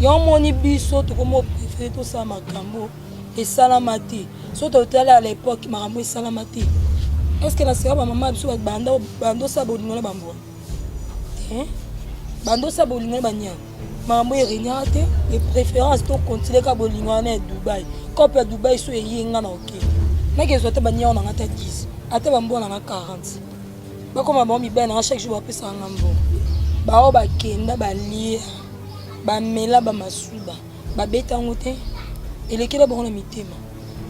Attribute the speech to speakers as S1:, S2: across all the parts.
S1: yango omoni biso tokomi oprefere tosala makambo esalama te so totali à l'époque makambo esalama te estce na sika bamama biso bandosala bolingo na bambwa te bandosala bolingo na banyama makambo eregnaka te de préférence tokontinue ka bolingo wana ya dubai cope ya dubai so eyenga na oke nakezwa ata baniao nanga ata 10 ata bambwa nanga 40 bakoma bango mibali na nga chaque jour bapesaka nga mbongo baoyo bakenda balia bamela bamasuba babeta yango te elekela bango na mitema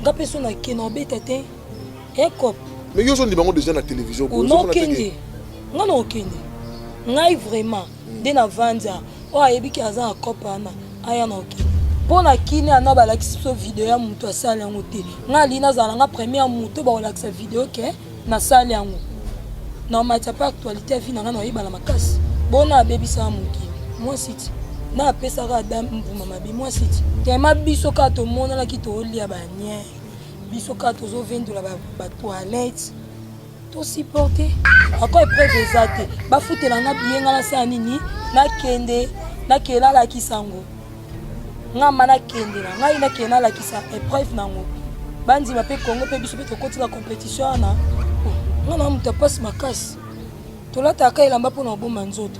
S1: nga mpe so nake na obeta te ekop mais yo ozondima
S2: yango deja na télévision nokende
S1: nga na okende ngai vraiment hmm. nde na vanza oyo oh, ayebiki aza na cope wana aya na okende mpo na kini ana balakisi biso video ya moto asala yango te ngai alingi nazala nga première moto bakolakisa video ke nasali yango na omati apa actualité ya vie na ngai na oyebana makasi bona abebisaka mokili mwasi ti na apesaka ada mbuma mabe mwasi ti tema biso kaka tomonanaki toolia banie biso kaka tozovendola batoilette tosiporte ako epreuve eza te bafutela nga biyenga na saa nini nakende nakelalaki sango nga ma nakende na ngai nakende nalakisa epreuve nango bandima mpe congo mpe biso mpe tokotika compétition wana nga na moto apasi makasi tolataka elamba mpo na kobomba nzoto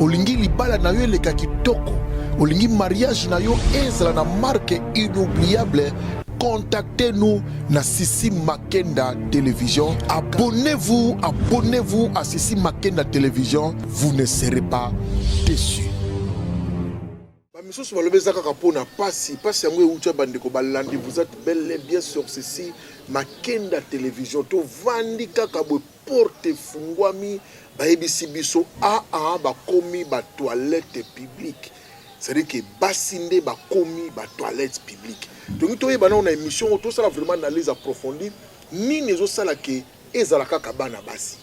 S2: Olingi libala na yo eleka kitoko, olingi mariage na yo ezala na marque inoubliable contactez-nous na Sissi Makenda Télévision. Abonnez-vous, abonnez-vous à Sissi Makenda Télévision. Vous ne serez pas déçus. Ba misusu balobi eza kaka mpo na pasi pasi yango euti ya bandeko balandi vous êtes bel et bien sur ceci makenda television tovandi kaka boye porte efungwami bayebisi biso aa ah, ah, bakomi ba toilette publique c'est-à-dire que basi nde bakomi ba toilette publique tolingi toyeba nao na émission oyo tosala vraiment analyse approfondie nini ezosala ke Ezala kaka bana basi,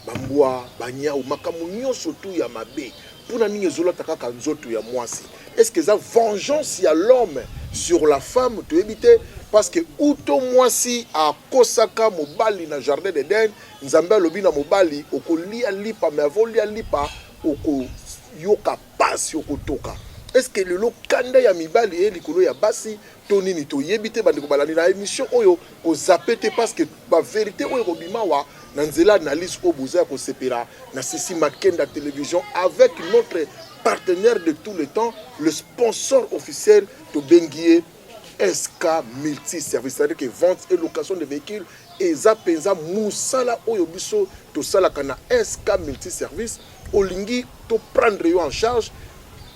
S2: ba mbwa, ba niawu, makambo nionso tout ya mabe pona nini ezolata kaka nzoto ya muasi? Est-ce que eza vengeance ya l'homme sur la femme? Toyebi te parce que uto muasi akosaka mobali na jardin d'Eden, Nzambe alobi na mobali okolia lipa, mais avant olia lipa okoyoka pasi, okotoka. Est-ce que lelo kanda ya mibali eye likolo ya basi to nini toyebi te bandeko balandi na emission oyo kozape te parce que ba verité oyo ekobima wa na nzela analyse oyo boza ya kosepela na sisi makenda television avec notre partenaire de tout le temps le sponsor officiel tobengi ye sk multi service c'est-à-dire que vente et location de véhicules eza mpenza mosala oyo biso tosalaka na sk multi service olingi toprendre yo en charge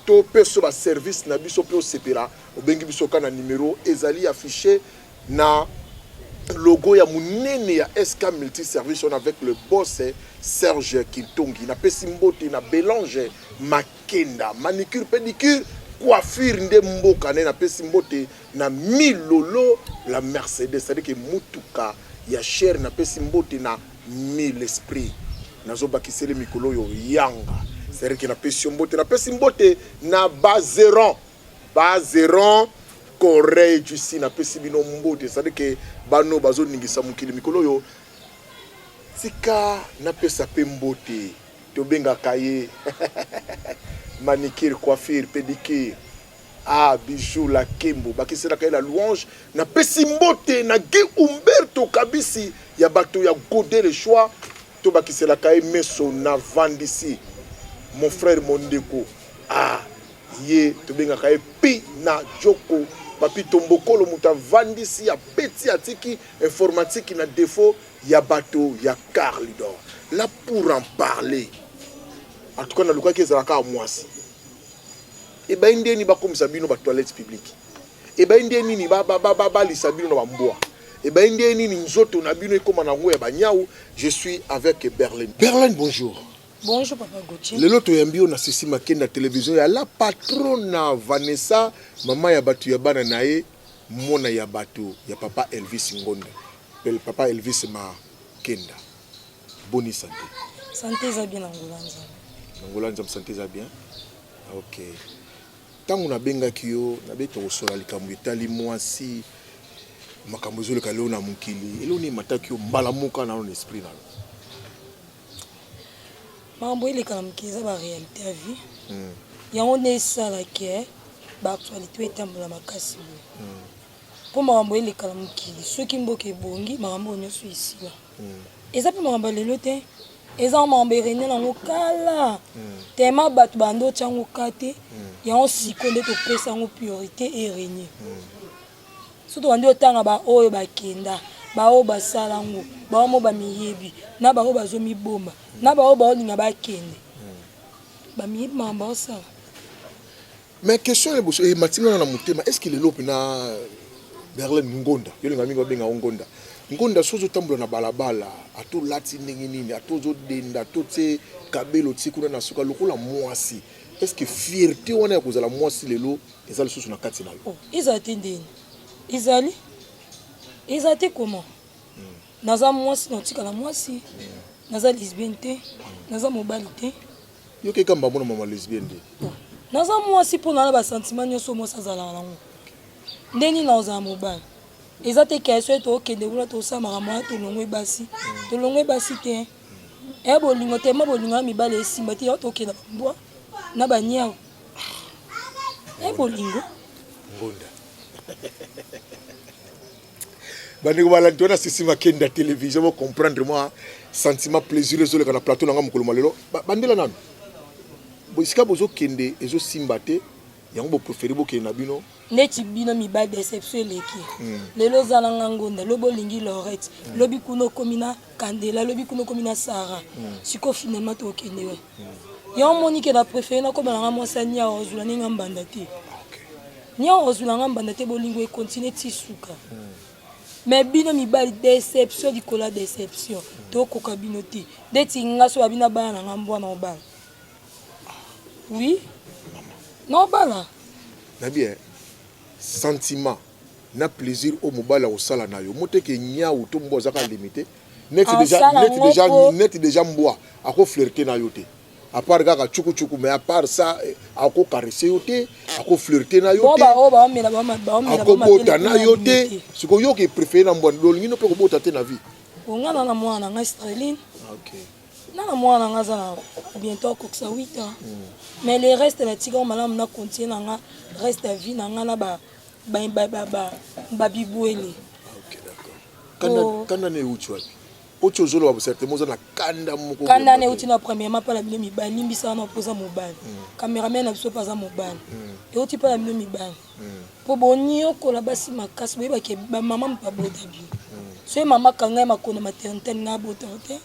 S2: to mpe so baservice na biso mpe osepela Obengi biso kaka na numero ezali affiche na logo ya munene ya SK Multiservice on avec le boss Serge Kintongi. Napesi mbote na Belange Makenda, manicure pedicure coiffure nde mboka ne napesi mbote na milolo la mercedes c'est-à-dire que mutuka ya cher napesi mbote na mille esprit nazobakiseli mikolo oyo yanga c'est-à-dire que napesi yo mbote napesi mbote na bazeran ba zeron corey jusi napesi bino mbote ezali ke bano bazoningisa mokili mikolo oyo tika napesa mpe mbote tobengaka ye manicure coiffure pedicure ah bijou la kembo bakiselaka ye la louange napesi mbote na gi umberto kabisi ya bato ya gode le choix tobakiselaka ye meso na vandisi mon frère mondeko ah Ye tobengaka ye Pina Djoko. Papy Tombokolo moto avandisi, abeti, atiki informatique na defaut ya bato ya Carlidor. Là pour en parler. En tout cas nalukaki ezala kaka mwasi. Ebayi nde nini bakomisa bino ba toilettes publiques? Ebayi nde nini balisa bino na bambwa? Ebayi nde nini nzoto na bino ekoma na yango ya banyau? Je suis avec Berlin. Berlin, bonjour. Bonjour papa
S1: Gauthier. Lelo toyambi yo na Sisi
S2: Makenda television ya la patrona Vanessa, mama ya batu ya bana na ye, mwana ya batu ya papa Elvis Ngonda. Pel papa Elvis Makenda. Boni santé. Santé eza bien
S1: na Ngola Nzambe. Na Ngola Nzambe santé
S2: eza bien. Ah, OK. Tango nabengaki yo, nabe tokosola likambo etali mwasi makambo ezoleka leo na mokili. Eloni mataki yo mbala moka na esprit na yo.
S1: makambo eleka na mokili eza ba réalité ya vie hmm. yango nde esala ke baactualité oyo etambola makasi boye hmm. mpo makambo eleka na mokili soki mboka ebongi makambo oyo nyonso esila hmm. eza mpe makambo ya lelo te eza makambo erene nango kala tema bato bando otya yango ka te yango siko nde topesa yango priorité erene soki tobandi otanga baoyo bakenda baoyo basala ngo baoyo mo bamiyebi na baoyo bazomibomba na baoyo baolinga bakende bamiyebi mama baosala
S2: mais question ya boso ematinga eh, na motema est ce que lelo mpena berlin ngonda yo linga mingi babenga o ngonda ngonda soki ozotambola na balabala ata olati ndenge nini ata ozodenda to tie kabelo tie kuna na suka lokola mwasi est ce que fierté wana ya kozala mwasi lelo eza lisusu na kati na yo oh, eza te ndeni
S1: ezali eza te koma hmm. naza mwasi naotikala mwasi hmm. naza lesbienne te hmm. naza mobali te yoki ekamba
S2: mona mama lesbienne te oh, naza mwasi
S1: mpo nana basentiment nyonso mwasi azalaka nango nde nini naozala mobali eza te keso ete okende kuna tosamaka mwana tolongwe basi tolongwe basi te e bolingo tema bolingo ya mibali esimba te yao tokenda bambwa na baniau Eh, bolingo ngunda
S2: bandeko balandi wana sisi makenda télévision bo comprendre moi sentiment plaisir ezoleka na plateau na nga mokolo malelo bandela nanu esika bozokende ezosimba te yango bopréféré bokende na bino neti bino mibali
S1: deception eleki hmm. lelo oza na nga ngonda lobi olingi lorette hmm. lobi kuna okomi na kandela lobi kuna okomi na sara hmm. sikoyo finalement tokende we yango omoni ke na préféré nakoma na nga mwasi ania ozula ndenge nga mbanda te nia ozula nga mbanda te bolingo ekontinue ti suka mais bino mibali deception likolo ya deception tokoka bino te ndeti nga so babina bana na nga mbwana obala Oui. Non, bala. Na bien.
S2: Sentiment. Na plaisir au mobala au sala na yo. Mote ke nyawu to mbo zaka limité. Net ah, déjà net déjà net déjà mboa. Ako flirter na yo te. À part kaka chuku chuku mais à part ça eh, ako caresser yo te, ako flirter na yo te. Boba oba oh, mela ba ma ba mela. Ako bota na yo te. Siko yo ke préfère na mbo ndolingino pe ko bota te na vie. Ongana na mwana
S1: ngai Sterling. Ah, okay.
S2: na mwana na
S1: nga aza na bientôt akokisa 8 ans hmm. mais le reste natika malamu na continue na nga reste ya vie na nga na babibwele
S2: kanda na euti wapi oti ozoloba bosertema oza na kanda moko kanda na euti na premièrement
S1: mpa na bino mibali limbisaka na mpo oza mobali hmm. cameraman na biso mpe aza mobali hmm. euti mpa na bino mibali po boniokola basi makasi boyeba ke ba mama mpe abota bi soki mama kanga ye makona maternité alinga abota te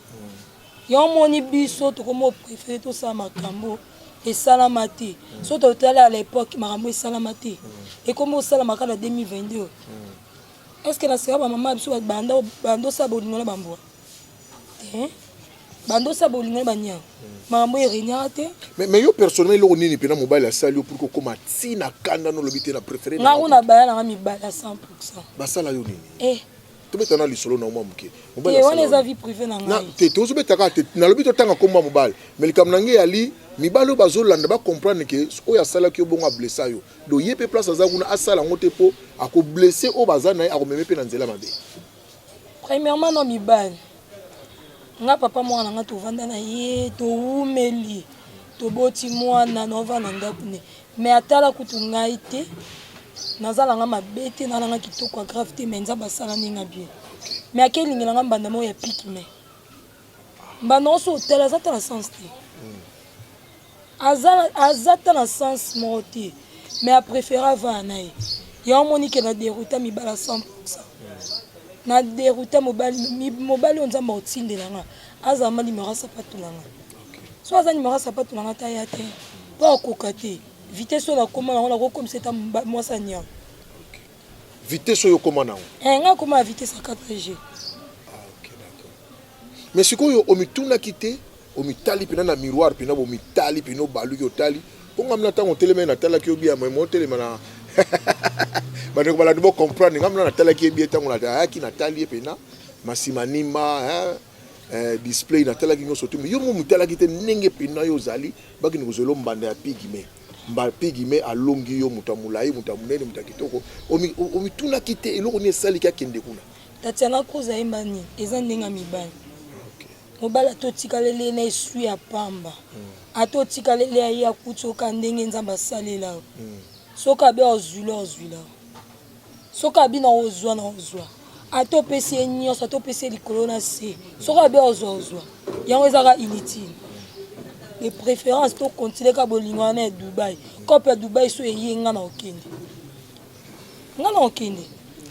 S1: yango moni biso tokomi oprefere tosala makambo esalama te so totali à l'époque makambo esalama te ekomi osalama kaka na 2022 est ce que na sika bamama ya biso banda osala bolingo na bambwa Eh? bandosa bolingai bania makambo eregnaka te mais yo personnellement
S2: eloko nini mpena mobali asali yo pourke okoma ti na kanda nolobi te na préféré nga kuna baya nanga
S1: mibali ya 100 basala yo nini
S2: eh. tobeta na lisolo na mwa moke eh, wana eza vie
S1: privé na ngai te tozobetaka te
S2: nalobi totanga nkombo ya mobali mais likambo na ngai yali mibali oyo bazolanda bacomprendre ke oyo asalaki yo bongo ablessa yo do ye mpe place aza kuna asala yango te mpo akoblesse oyo baza na ye akomeme mpe na nzela mabe Premièrement
S1: no mibali nga papa mwana na nga tovanda na ye towumeli toboti mwana na ova na ndako ne mais atala kutu ngai te naza na nga mabe te na nanga kitoko ya grave te mais nzambe asala ndenge ya bien mais akelingela nga mbanda moko ya piki mais mbanda oso otala aza ata na sens te aza ata na sens moko te mais apréféré avana na ye yango omoni ke na derouta mibala 100 na derouta mobali oyo nzambe akotindela nga azala ma nimero ya sapato na nga so aza nimero ya sapato na nga ta ya te mpo akoka te vitesse oyo nakoma nango nakokomisa eta mwasi ya niango
S2: vitesse oyo okoma nango eh, nga akoma ya vitesse ya
S1: 4g ah, okay,
S2: mais sikoyo omitunaki te omitali mpena na miroir mpena bomitali mpena obaluki otali mpo ngai mna ntango otelemai natalaki yo bia mai motelema na bandeko balandi bocomprendre ngai mna natalaki ye bie ntango ayaki natali ye mpena masima nima eh, display natalaki nyonso te yo mo motalaki te ndenge mpena yo ozali bakini kozwela mbanda ya pigme Mba pigime alongi yo moto ya molai, moto ya monene, moto ya kitoko. Omitunaki te eloko nini esaliki akende kuna? Tatiana Cruz
S1: ayemba nini? Eza ndenge ya mibali. Mobali ata otikaleli ye na eswi ya pamba, hmm. ata otikaleli ya ye akuti oka ndenge Nzambe asalela yo, hmm. soki abe ozwila ozwila soki abi na ozwa na ozwa ata opesi ye nyonso ata opesi ye likolo na se soki abi ozwa ozwa yango ezaka inutile de préférence to continue ka bolingo wana ya dubai cope ya dubai so eye nga na okende nga na okende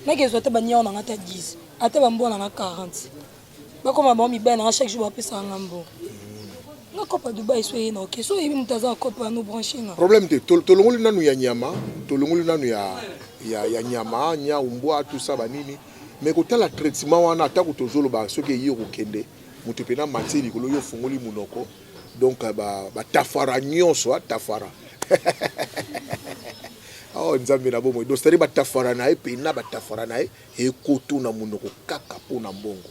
S1: nakezwa ata baniao na nga ata 10 ata bambwa na nga 40 nakoma bango mibali nanga chaque jour bapesaka nga mbongo nakopa dubai so eye na oke so oyebi moto aza akopa ya nobranche nga problème te tolongoli
S2: nanu ya nyama tolongoli nanu ya, ya, ya nyama nyau mbwa tout ça banini mais kotala traitement wana atako tozoloba soki eyi okokende moto mpena matie likolo yo ofungoli monoko donc batafara ba nyonso atafara ah, awa oh, nzambe na bomoi dostari batafara na ye mpena batafara na ye Ekoto na munoko kaka po na mbongo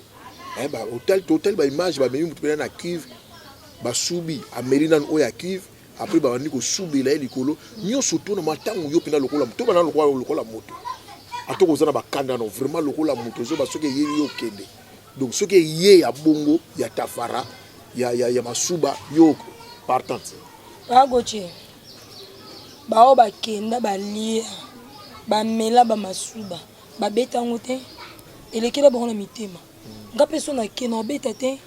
S2: eh, ba otali totali ba image ba memi mutu pena na cuve basubi ameli nanu oyo ya cuve après babandi kosubela ye likolo nyonso to na matango yo pena lokola to bana lokola lokola moto atoko oza na bakanda no vraiment lokola moto ozoba soki eyeli yo okende donc soki eye ya bongo ya tafara ya, ya, ya masuba yo partante agoce
S1: Baoyo bakenda balia bamela ba masuba babeta yango te elekela bango na mitema nga mpe so nake na obeta te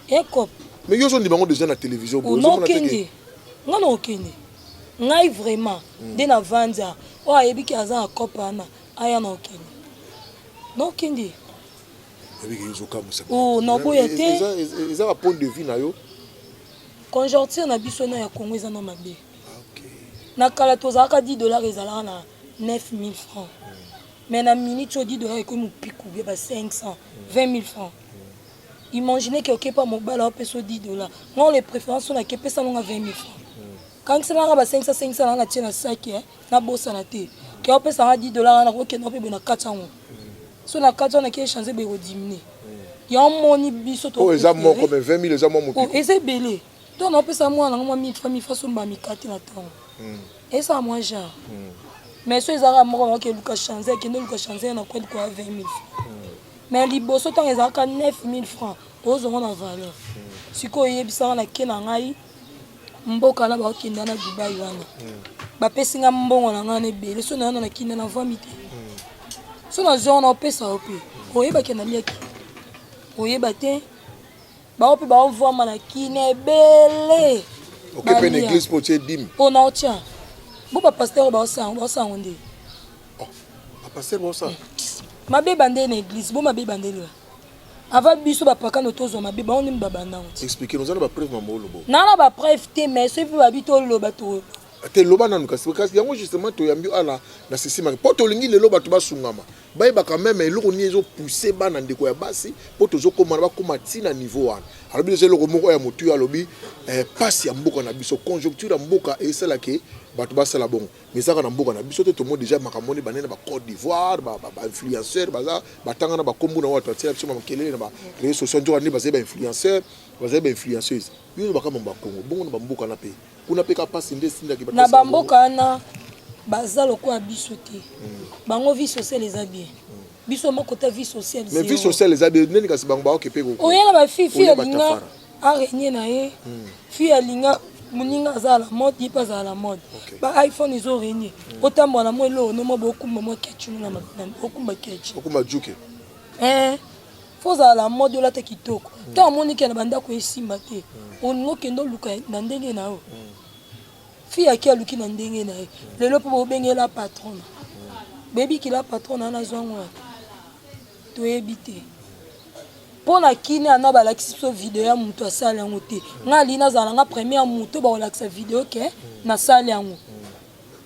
S1: ekop mais yo ozondima
S2: yango deja na télévision onokende
S1: nga na okende ngai vraiment hmm. nde na vanza oyo ayebi ke aza na cope wana aya na okende na okende Oh,
S2: na boya te eza ba point de vue na yo conjoncture
S1: na biso na ya congo eza na mabe ah, na kala tozalaka 10 dollars ezalaka na 9000 francs mais na minute oyo 10 dollars ekomi mopiku bie ba 500 20000 francs imagine ke okepa mobala opesa 10 dollars ngai le préférence oyo nakepesa nonga 20000 francs kangiselanga ba 500 500 nanga tie na saki nabosana te ke opesanga 10 dollars wana nakokenda mpe boye na kati yango so na kati wana ke change beko diminuer yango moni biso to eza moko mais
S2: 20000 eza mwa motu eza ebele
S1: to na pesa mwana ngo mwa mifa mifa so ba mikati na tango hmm. esa mwa genre hmm. mais so ezaka moko ba ke luka change ke ndo luka change na kweli kwa 20000 hmm. mais liboso tango ezaka 9000 francs ozo ngo na valeur sikoyo yebisanga na ke na ngai mboka wana bakokenda na dubai wana hmm. bapesi nga mbongo na ngai na ebele so nayana na kinda na vami te hmm. so nazwa wana opesa yo mpe hmm. oyebaki na liaki oyeba te bango mpe baovwama na kina ebele okepe na
S2: eglise mpo tie dime mpo na otya
S1: bo bapaster oyo baosango nde oh,
S2: bapaster baosango eh, mabe bande
S1: na eglise bo mabe bande lela Avant biso ba pakano to zoma be baoni ba bandango. Expliquer nous ba preuve mambo
S2: lobo. Na na ba preuve te
S1: mais ce pe ba bito loba to. Te loba nanu
S2: kasi kasi yango justement to yambi ala na sisi mari. Po to lingi lelo bato basungama. Bayeba quand même eloko ni ezo pousser bana ndeko ya basi po tozo koma ba koma tina niveau wana. Alors biso eloko moko ya mutu alobi eh, passe ya mboka na biso conjoncture ya mboka esala ke bato basala bongo. mais ezaka na mboka na biso te tomoni deja makambo wana ebandai na bacote d'ivoire bainfluenceur baza batanga na bakombo na watu atia biso makelele na bareseau social nzoka nde bazali bainfluenceur bazali bainfluenceuse yo olobaka mambo ya kongo bongo na bamboka na mpe kuna mpe ka mpasi nde esindaki na bamboka wana
S1: baza lokola biso te hmm. bango vie sociale eza bien hmm. biso moko te vie sociale mais vie sociale eza bien
S2: nani kasi bango baoke mpe oyela bafifi olinga
S1: a renie na ye hmm. fille alinga moninga azala na mode ye mpe azala na mode ba iphone ezo renie hmm. otambola na mwa eloko no mwa bokumba mwa kechi na okumba kechi okumba juke
S2: eh
S1: fo ozala na mode olata kitoko hmm. ntango omoni ke na bandako esimba te olingi okende oluka na ndenge na yo fille ake aluki na ndenge na ye lelo mpo bobengela patrona boyebi kila patrona wana azwa yango wapi toyebi te mpo na kini ana balakisi biso video ya moto asali yango te ngai alingi nazala nga premier moto bakolakisa video ke nasali yango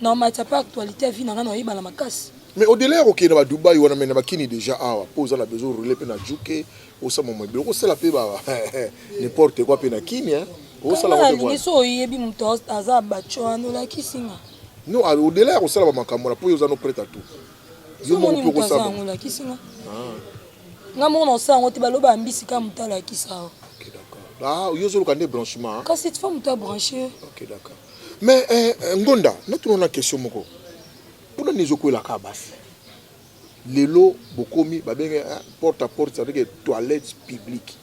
S1: na matière mpe actualité ya vie na ngai nakoyeba na makasi mais odela ya kokende
S2: ba dubai wana mai na bakini déjà awa mpo oza na besoin orele mpe na juke osama mwa ebele okosala mpe ba n'importe quoi mpe na kini osalaalingi so oyebi
S1: moto aza baco wana olakisi nga no odela
S2: ya kosala bamakambo wana mpo yo oza no prete a tout Yo moko mpe
S1: okosala yango lakisi nga. Ah. Nga moko na osala yango te baloba ya mbisi kaka moto alakisa yo. Ok d'accord.
S2: Ah, yo ozoluka nde branchement. Hein? Kasi tifo moto abranche.
S1: Ok d'accord.
S2: Mais eh, eh Ngonda, natuna na question moko. Mpona nini ezokwelaka basi? lelo bokomi babenge eh, porte à porte ça veut dire toilette publique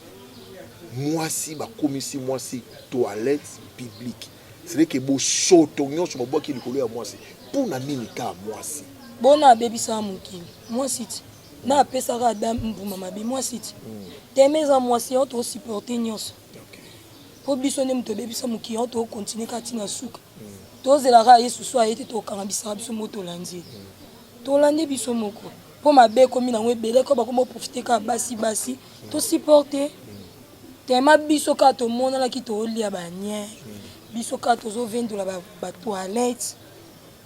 S2: mwasi bakomisi mwasi toilette publique C'est vrai que bosoto nyonso babwaki likolo ya mwasi mpo na nini kaa mwasi bona abebisaka
S1: mokili mwasi ti na apesaka ada mbuma mabe mwasi ti hmm. teme eza mwasi yango toosupporte nyonso mpo biso nde moto obebisa mokili yango tookontinue kaka ntina suka hmm. tozelaka yesu so aye te tokanga bisaka biso moko tolandi ye hmm. tolandi biso moko mpo mabe ekomi nango ebele ko bakomi oprofite kaka basi basi tosupporte Tellement biso kaka tomonanaki tolia ba nien biso kaka tozovendola ba, ba toilettes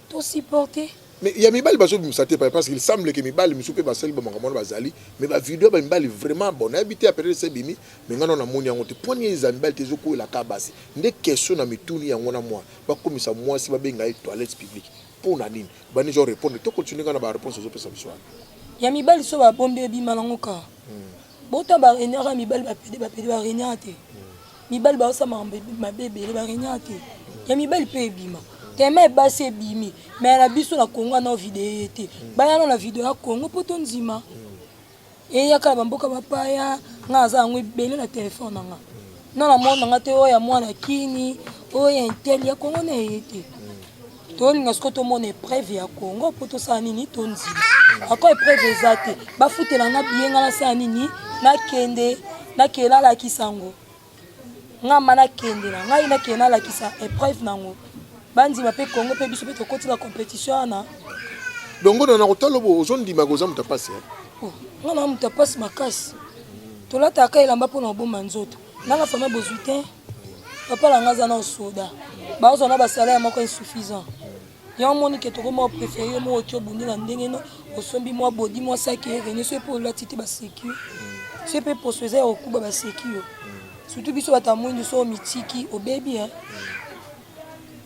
S1: to supporter mais ya mibali
S2: bazobimisa te parce qu'il semble que mibali misu mpe basali bamakambo wana bazali mais bavideo ya bamibali vraiment bon nayebi te apelele se ebimi mais ngai nao namoni yango te pwani ye eza mibali te ezokwela ka basi nde question na mituni yango na mwa bakomisa mwasi babenga ye toilette publique mpo na nini bani zo répondre to continue ngai na baréponse ezopesa biso wana ya mibali so
S1: babombi ebima nango kaka hmm. Bota ba regnaka ya mibali ba pede ba pede ba regnaka te. Mibali ba osa makambo mabe ebele ba regnaka te. Ya mibali pe ebima. Tema ebasi ebimi. Mais na biso na Congo na video ye te. Baya na video ya Congo po to nzima. Eyaka na bamboka bapaya nga aza yango ebele na telefone na nga. Na na mwana nga te oyo ya mwana kini oyo ya intel ya Congo na eye te. tolinga sikoyo tomona epreuve ya congo mpo tosala nini tondima ako epreuve eza te bafutela nga biye nga nasala nini nakende nakende nalakisa yango nga ma nakende na ngai nakende nalakisa epreuve nango bandima mpe congo mpe biso mpe tokotila compétition wana dongo na
S2: nakotala obo ozondima koza moto apasi eh? oh, nga na
S1: moto apasi makasi tolataka elamba mpo na kobomba nzoto nanga fama bozwi te papa na ngai aza na soda bazwa na basalaire moko insuffisant yango omoni ke toko mwa préféré yo moko oki obundi na ndenge no osombi mwa bodi mwa saki erene so epe olati te baseki yo so epe poso eza ya kokuba baseki yo surtout biso bato ya mwindu so omitiki obebi hein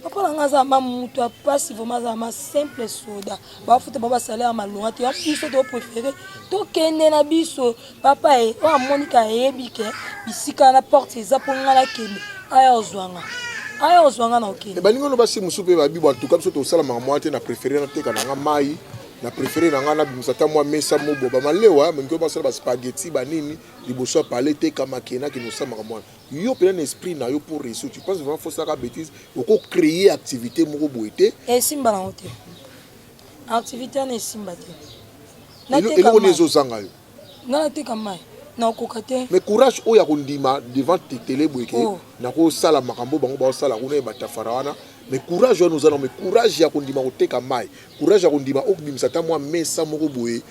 S1: papa na ngai aza ma moto ya mpasi vraimen aza ma simple soda bafuta ba basalaire ya malonga te biso topréféré tokende na biso papa ye oyo amoni ka ayebi ke bisika na porte eza mpo ngai nakende aya ozwanga aya ozwanga na okende balingi ono basi mosusu mpe
S2: babibo antuka biso tosalamaka mwa te na préféré nateka na ngai mai na préféré na ngai nabimisa ata mwa mesa moboba malewa balingi basala baspageti banini liboso ya pale teka makena kinosamaka mwana yo pena na esprit na yo pour réussir tu penses vraiment faut saka bêtise oko créer activité moko boye te esimba nango te
S1: activité wana esimba te
S2: eloko nde ezozanga yo nga nateka mai
S1: nakoka te mais courage oyo ya
S2: kondima devant tetele boye ke oh. nakosala makambo bango baosala kuna ye batafara wana mais courage wana oza nango mais courage ya kondima koteka mai courage ya kondima okobimisa ata mwa mesa moko boye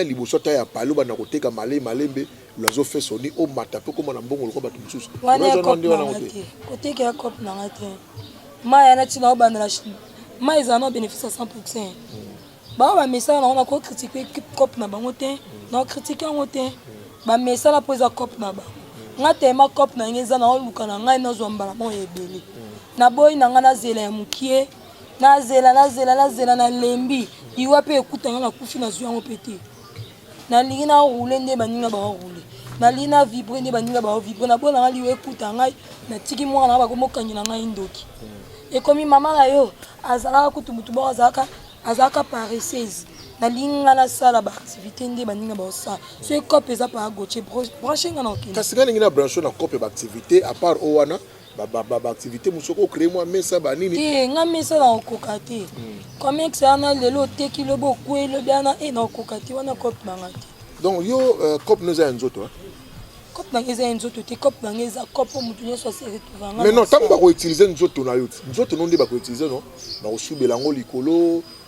S2: liboso ata ya pale obanda koteka male malembe Loiseau fait son nid omata mpe okoma na mbongo lokola bato mosusu. Wana ya cop na nga
S1: te. Koteka ya cop na nga te. Maya na ntina obanda na Chine. Maya ezala na bénéfice ya 100%. Bango bamesana nango nako kritike cop na bango te. Nao kritike yango te. Bamesana mpo eza cop na bango. Nga tema cop na nga eza naoluka na ngai nazwa mbala moko ya ebele. Naboyi na nga nazela ya mokie. Nazela, nazela, nazela, nalembi. Iwa mpe ekuta nga nakufi nazwi yango mpe te. nalingi na roule nde baninga bao roule nalingi na vibre nde baninga bao vibre na bona ngai liwa ekuta ngai natiki mwana na bakomi okangela ngai ndoki hmm. ekomi mama na yo azalaka kutu motu moko azalaka azalaka paresseuse nalingi ngai nasala baactivité nde baninga baosala soki cope eza paa goche branche ngai na okende kasi ngai lingi na branche na
S2: cope baactivité apart o wana baactivité mosusu oko créer mwa mesa banini te nga mesa na
S1: okoka te hmm. comex wana lelo oteki lobi okwei lobi wana e na okoka te wana cope na nga te donc yo euh,
S2: cope no eza ya nzoto cope na nga
S1: eza ya nzoto te cope na nga eza cope motu nyonso aseretrouva nga mais non ntango bakoutilize
S2: nzoto na yo nzoto no nde bakoutilize no bakosubela yango likolo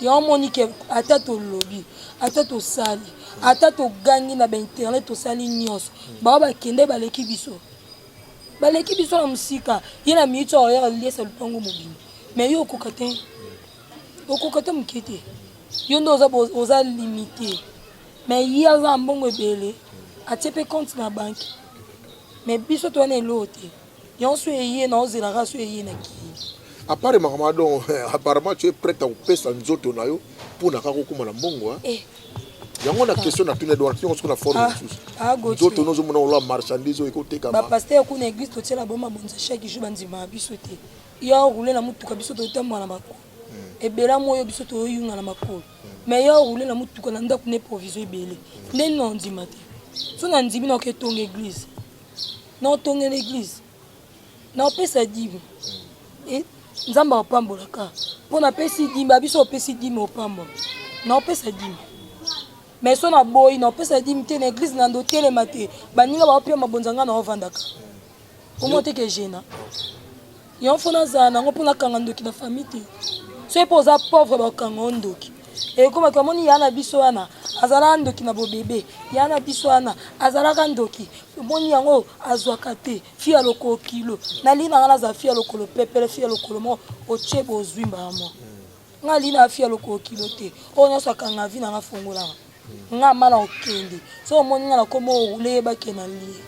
S1: ya omoni ke ata tolobi ata tosali ata togangi na bainternet tosali nyonso bao bakende baleki biso baleki biso na mosika ye na miniti oyo yaka liesa lupango mobimba me yo okoka te okoka te moke te yo nde oza, oza limite me ye aza na mbongo ebele atie mpe compte na banke me biso towana eloo te Yonso eye na ozela kaka so eye na ki. À part makambo donc
S2: apparemment tu es prête à kopesa nzoto na yo mpo na kaka okoma na mbongo hein. Eh. yango na question natuni edward yango soki na forme Ah, mosusu ah, Gauthier. nzoto no ozomona oloa marchandise oyo ekotekama bapaster kuna eglise
S1: totyela bango mabonza chaque jour bandimaka biso te yo aroule na motuka biso totambola na makolo ebela moyo biso toyoyunga na makolo mais yo aroule na motuka na ndako na improviso ebele nde nini ondima te so nandimi naoki etonga eglise na otongela eglise na opesa dime e, nzambe aopambola ka mpo napesi dime abiso opesi dime opambola na opesa dime mais so na boyi na opesa dime te na eglise na ndo telema te baninga baopia mabonza ngai na ovandaka omo te ke gena yango fo nazala nango mpo nakanga ndoki na famille te soki mpo oza pauvre bakanga o ndoki ekomaki eh, amoni ya na biso wana azalaka ndoki na bobebe ya na biso wana azalaka ndoki omoni yango azwaka te fi ya lokolo kilo nalii nanga naza fi ya lokolo pepele fi ya lokolo moko otie bozwi mbala moko nga lii na fi ya lokolo kilo te oyo nyonso akanga vi nanga fongolanga nga mana okende so omoni nga nakoma orule yebake na lie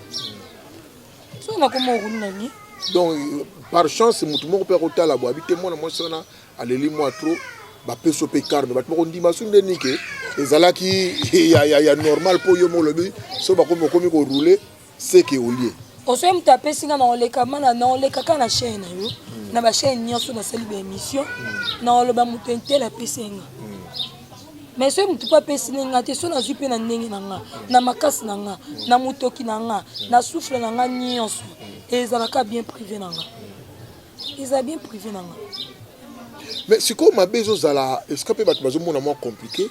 S1: so nakoma orule na lie donc
S2: par chance motu moko mpe akotala bo abi te mwana mwasi wana aleli mwa trop bapesi mpe carne bato bakondima su nde nike ezalaki ya, ya, ya normal mpo yo molobi so bakomi okomi korule seke olie osoki moto apesi
S1: nga nakoleka mana nakoleka kaka na chaine na yo hmm. na bachaine nyonso nasali baémission hmm. nakoloba moto intele apesi nga hmm. mais soki motu mpe apesi nde nga te so nazwi mpe na ndenge na nga na makasi na nga na motoki na nga na souffle na nga nyonso ezalaka bien privé na nga eza bien privé na nga mais
S2: sikoyo mabe ezozala esika mpe bato bazomona mwa compliqué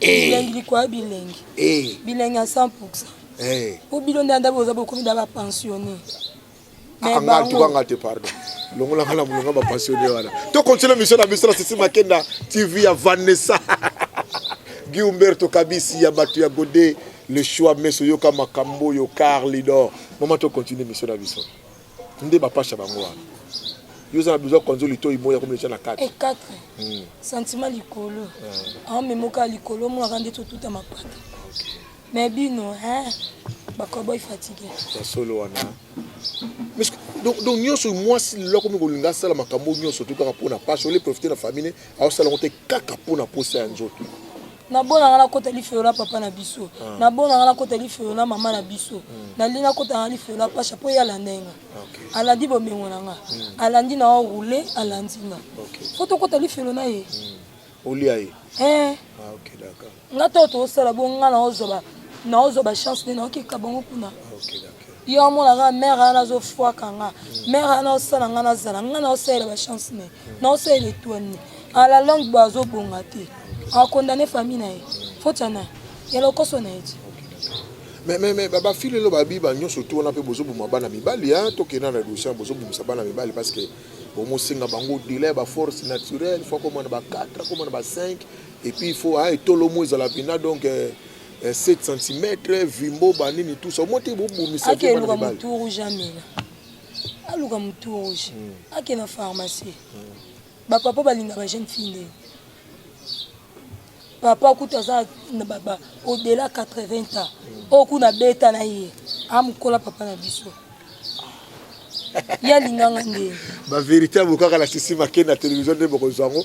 S1: Eh. bilengi likolo ya bilengi Eh. bilengi ya 100 pourcent Eh. po bino nde anda boza bokomi na bapensionne Ah,
S2: nga tuka nga te pardon longola nga na molonga bapassionne wana to continue mission na biso na sisi makenda tv ya vanessa guy humberto kabisi ya bato ya gode le choix meso yoka makambo oyo car lidor mama to continue mission na biso nde ba pasha bango wana yo oza na besoin kwanza olitoyi moya komi etya na kati e kati hmm.
S1: sentiment likolo ah. aomemoka likolo omonaka nde totuta mapata mais bino bakoboy fatigue ya solo wana
S2: donc nyonso mwasi lelo akomi kolinga asala makambo nyonso to kaka mpona pasi ole profite na famille aosala yango te kaka mpo na posa ya nzoto nabonanga
S1: nakota lifelo na papa na biso ah. nabonanga nakota lifelo na mama na biso hmm. nalingi nakotanga lifelo na pasha mpo ye alanda nga alandi bomengo na nga hmm. alandi na o roule alandi nga fo tokota lifelo na ye hmm. olia ye
S2: eh. ah, nga to tosala bo
S1: nga naozwa naozwa bachance nde naokeka bango kuna
S2: yo amonaka mare
S1: wana azofwaka nga mare wana osala nga nazala nga naosalela bachance ne naosalela etwane a la longue bo azobonga te akondane famille na ye foti ana ya lokoso na ye ti mais mais
S2: mais bafile elo babiba nyonso to wana mpe bozoboma bana mibali a tokenda na dossier bozobomisa bana mibali parce que bomosenga bango dela ya baforce naturelle fo akoma na ba 4 akoma na ba 5 et puis il faut hein, etolo mo ezala mpena donc euh, 7 euh, cm vimbo banini tout ça omoi te bobomisa akeluka motu rouge
S1: amela aluka motu rouge hmm. ake na pharmacie hmm. bapapa balinga bajeune fille nde papa kutu aza odela 80 ans hmm. oyo kuna beta na ye amokola papa na biso ye alinganga nde baverité yango
S2: kaka na sisi make na télévision nde bokozwa yango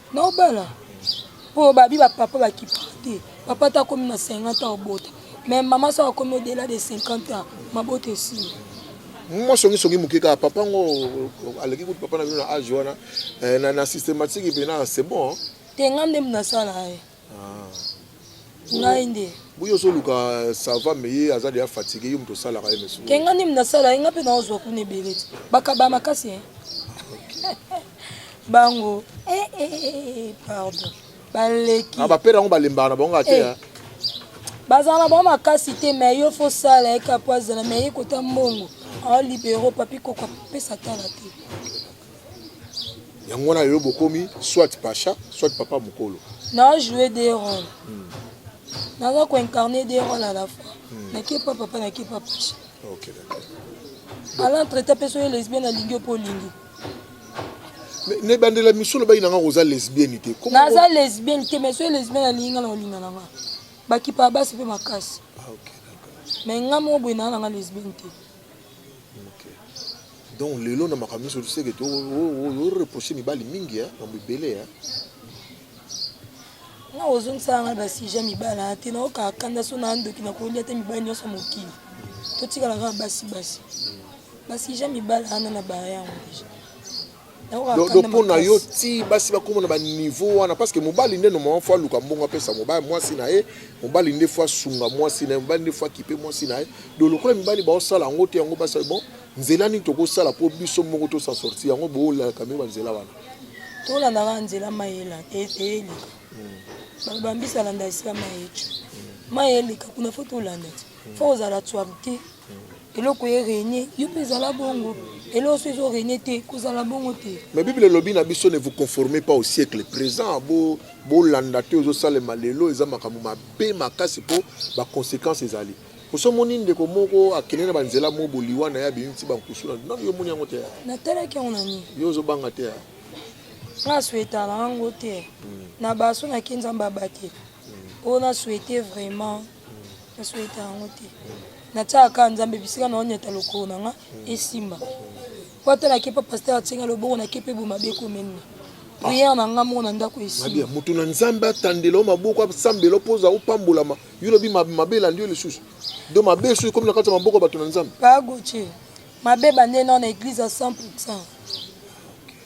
S1: na obala mpo babi bapapa bakipaka te papa te akomi na 50 ans obota mais mama so akomi odela de 50 ans mabota esili mwa
S2: songisongi moke kaka papa ngo aleki kutu papa na bino na age wana eh, na systématique mpena c'est bon te nga nde
S1: nasala ye eh. ngai nde buyi ozoluka
S2: sava me ye aza deya fatigue yo moto osalaka ye mesu ke ngai ndimi nasala ye ngai
S1: mpe naozwa kuna ebele ti bakaba makasi e bango eh, eh, eh, pardon baleki ah, bapere yango balembaka
S2: na bango kaka te bazala
S1: na bango makasi te me yo fo sala ye kapo azala me ye kota mbongo aolibero papi koko apesa tala te
S2: yango wana lelo bokomi soit pacha soit papa mokolo na joue des
S1: rôles hmm. naza koincarne des rôles à la fois hmm. nakepa papa nakepa pacha
S2: okay, ala
S1: traite mpe soki lesbienne alingi yo mpo olingi
S2: na ebandela misolo bayi na nga oza lesbienne te naza lesbienne
S1: te mais soki lesbienne alingi nga na olinga na nga bakipa basi mpe makasi ah,
S2: mais nga moko boye naa
S1: na nga lesbienne te
S2: donc lelo na makambo nyonso toseke toreproche mibali mingi mambo ebele
S1: na ozongisaka ngai basujet mibali na te naokaka kanda so na ndoki nakolia te mibali nyonso mokili totikala kaka basi basi basujet mibali ana na baya yango deja do mpo na yo
S2: ti basi bakoma na baniveau wana parce que mobali nde normalement fo aluka mbongo apesa mobali mwasi na ye mobali nde fo asunga mwasi na ye mobali nde fo akipe mwasi na ye do lokola mibali baosala yango te yango basali bon nzela nini tokosala mpo biso moko tosa sorti yango boolalaka mio banzela wana tolandaka
S1: nzela mayela eyeli hmm. bambisa landa esila mayeco mayelika kuna fo tolanda ti fo ozala tswab te eloko ye renie yo mpe ezala bongo eloko so ezo renie te kozala bongo te mais bible elobi na biso
S2: ne vous conformez pas au siècle présent bo bolanda te ozosalema lelo eza makambo mabe makasi mpo baconséquence ezali oso omoni ndeko moko akende na banzela mo boliwa na ye abimi ti bankusu na nano yo omoni yango te natalaki yango na
S1: nini yo ozobanga te
S2: nga
S1: swetala yango te hmm. na baso nake nzambe abatela oyo na swete vraiment na souhaita yango te natiaka kaka nzambe bisika na onyata lokolo na nga esimba po ata nake pa paster atie nga loboko nake mpe bomabe ekomenne priere na nga moko na ndako esimba moto na nzambe
S2: atandela o maboko asambela mpo oza opambolama yo lobi mabe elandi yo lisusu do mabe esusu ekomi na kati ya maboko ya bato na nzambe pagoce
S1: mabe bande nao na eglise ya 100 pourcent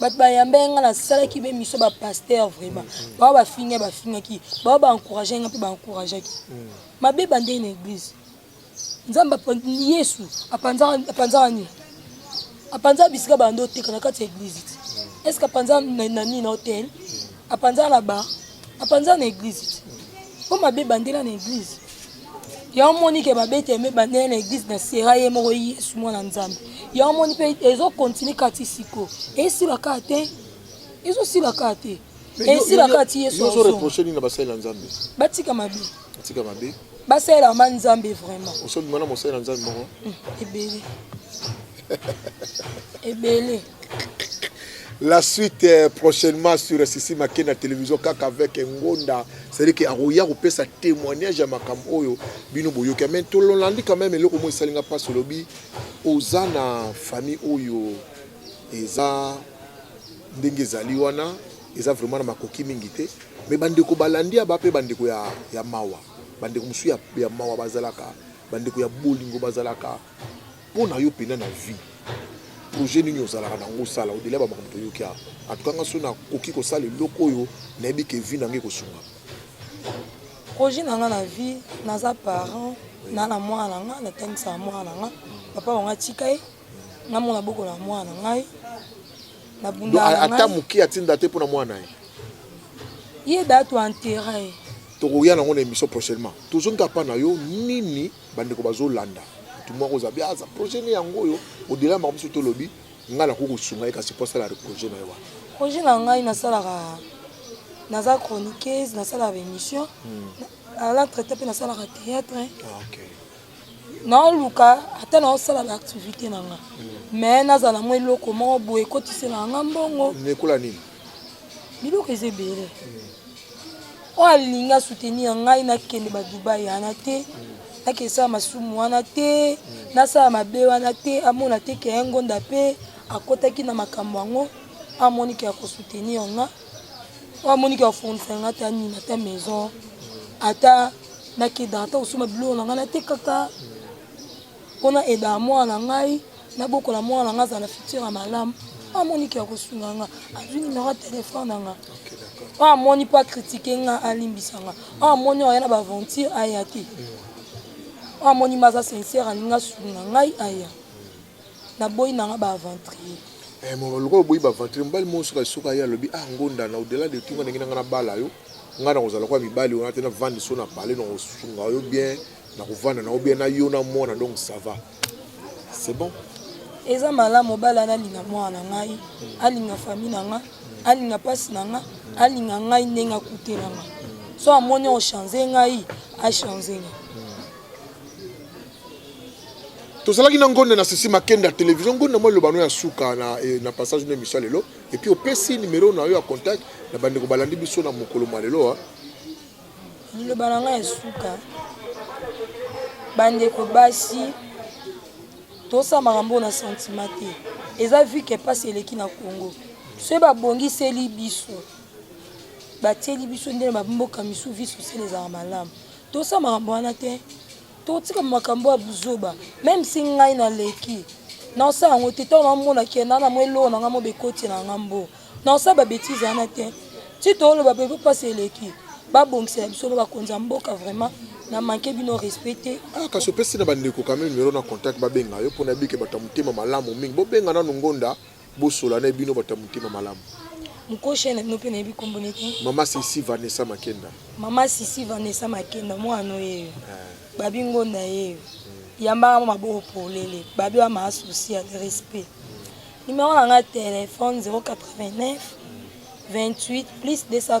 S2: bato bayamba
S1: ye ngai nasalaki be miso bapaster vraiment mm. bao bafinga bafingaki bao baencourage ngai mpe baencourageaki mm. mabe bandei na église nzambe yesu apanzaka nini apanzaka bisika banda oteka na kati ya église ti mm. est ce que apanza na nini na hotel mm. apanza la ba apanza na eglise ti po mabe bandela na eglise ya omoni ke babete me bandela na eglise na sera ye moko yesu mwana nzambe ya omoni mpe ezokontinue kati siko esila kaka te ezosila kaka te esila kaka ti yesu batika
S2: mabe
S1: batika mabe basalela ma nzambe vraiment osobima na mosali na nzambe
S2: moko hmm, ebele
S1: ebele
S2: La suite euh, prochainement sur Sisi Make na télévision kaka avec Ngonda, c'est-à-dire que akoya kopesa témoignage ya makambo oyo bino boyoki mais tololandi quand même eloko moko esalinga mpasi olobi oza na famille oyo eza ndenge ezali wana eza vraiment na makoki mingi te mais bandeko balandi ya ba mpe bandeko ya, ya mawa bandeko mosusu ya, ya mawa bazalaka bandeko ya bolingo bazalaka Mpo na yo mpenza na vie projet nini ozalaka nango osala odela ba makambo toyoki awa atuka nga so nakoki kosala eloko oyo nayebi ke vie na ngai ekosunga
S1: projet na ngai na vie naza parent na na mwana na ngai natangisaka mwana na ngai papa wango atika ye namona boko na mwana na ngai
S2: ata moke atinda te mpo na mwana ye
S1: ye datu enterre tokoya nango na émission
S2: prochainement tozongi kapa na yo nini bandeko bazolanda motu moko oza bia aza projet ne yango oyo odela makambo biso tolobi ngai nakoki kosunga ye kasi mpo asala projet na ye wana projet na ngai
S1: nasalaka naza chroniqueuse nasalaka baémission ala hmm. traité mpe nasalaka théâtre ah, naoluka ata naosala baactivité na nga mais hmm. nazala mwa eloko moko boye ekotisela nga mbongo nekola nini
S2: biloko
S1: eza ebele oyo alingi asoutenir ya ngai nakende badubai yana te nakende sala masumu wana te nasala mabe wana te amona te ke ya ngonda mpe akotaki na makambo yango amoni ke ya kosoutenir nga oyo amoni ke afournisa nga ata nini ata maison ata nakendaka ata kosomba biloko na ngai natekaka mpo na aidaka mwana na ngai nabokola mwana na ngai azala na futur ya malamu mpo amoni ke akosunga nga azwi numero ya telefone na nga mpo amoni mpo akritike nga alimbisa nga mpo amoni oya na baaventure aya te mpo amoni ma aza sincere alingi asunga ngai aya naboyi na nga baaventrier eh, lokola
S2: oboyi baaventrier mobali moko soki soki aye alobi ah ngondana odela de tunga ndenge na nga nabala yo ngai nakozala kwa mibali wana te navandi so na pale nakosunga yo bien nakovanda na obia na yo na mwana donc ça va c'est bon eza malamu
S1: mobali ana alinga mwana na ngai alinga fami na ngai alinga mpasi na ngai alinga ngai ndenge akutela ngai so amoni ochange ngai achange ngai
S2: tozalaki na ngonde na sisi makende ya televizio ngonde mwa elobano ya suka na, eh, na passage na emission ya lelo epuis opesi numero na yo ya contact na bandeko balandi biso na mokolo mwa lelo
S1: Liloba na ngai ya suka, bandeko basi tosala makambo oyo na santima te. Eza vi ke mpasi eleki na Congo, soki babongiseli biso batieli biso nde na bamboka misusu vi sosiale ezala malamu, tosala makambo wana te. totika makambo ya buzoba meme si ngai naleki naosala yango te ntango namona ke na namwa eloko na ngai mo bekoti na ngai mbo naosala babetize wana te ti tooloba bebe mpasi eleki babongisela biso mpe bakonzi ya mboka vraiment na manke bino respect te ah, kasi opesi na
S2: bandeko kame numero na contact babenga yo mpo na bike bato ya motema malamu mingi bobenga nanu ngonda Bosola na bino bato ya motema malamu. Mukoshi ya naino
S1: mpe nayebi kombo ne te. Mama Sisi Vanessa
S2: Makenda. Mama Sisi
S1: Vanessa Makenda mwana oyeyo. Eh. Babi ngonda yeyo. Hmm. Yambaka mo maboko polele. Babi wa ma souci ya respect. Numéro na nga téléphone 089 28 plus 200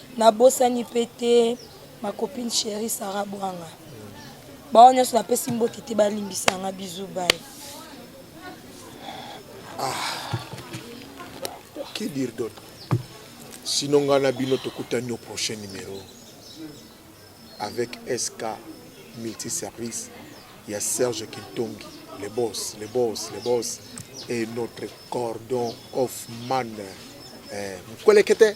S1: Nabosani pe te ma copine cherie Sarah Bwanga. Baoyo nyonso napesi mbote te balimbisa nga bizu bai. Ah.
S2: Que dire d'autre? Sinon nga na bino tokutani au prochain numéro avec SK multiservice ya Serge Kintongi le boss, le boss, le boss et notre cordon of man eh, mkwelekete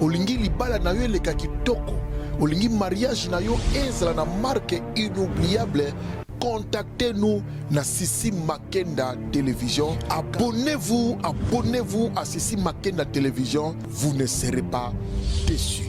S2: Olingi libala na yo eleka kitoko, olingi mariage na yo ezala na marque inoubliable contactez-nous na Sissi Makenda Télévision. Abonnez-vous, abonnez-vous à Sissi Makenda Télévision. Vous ne serez pas déçus.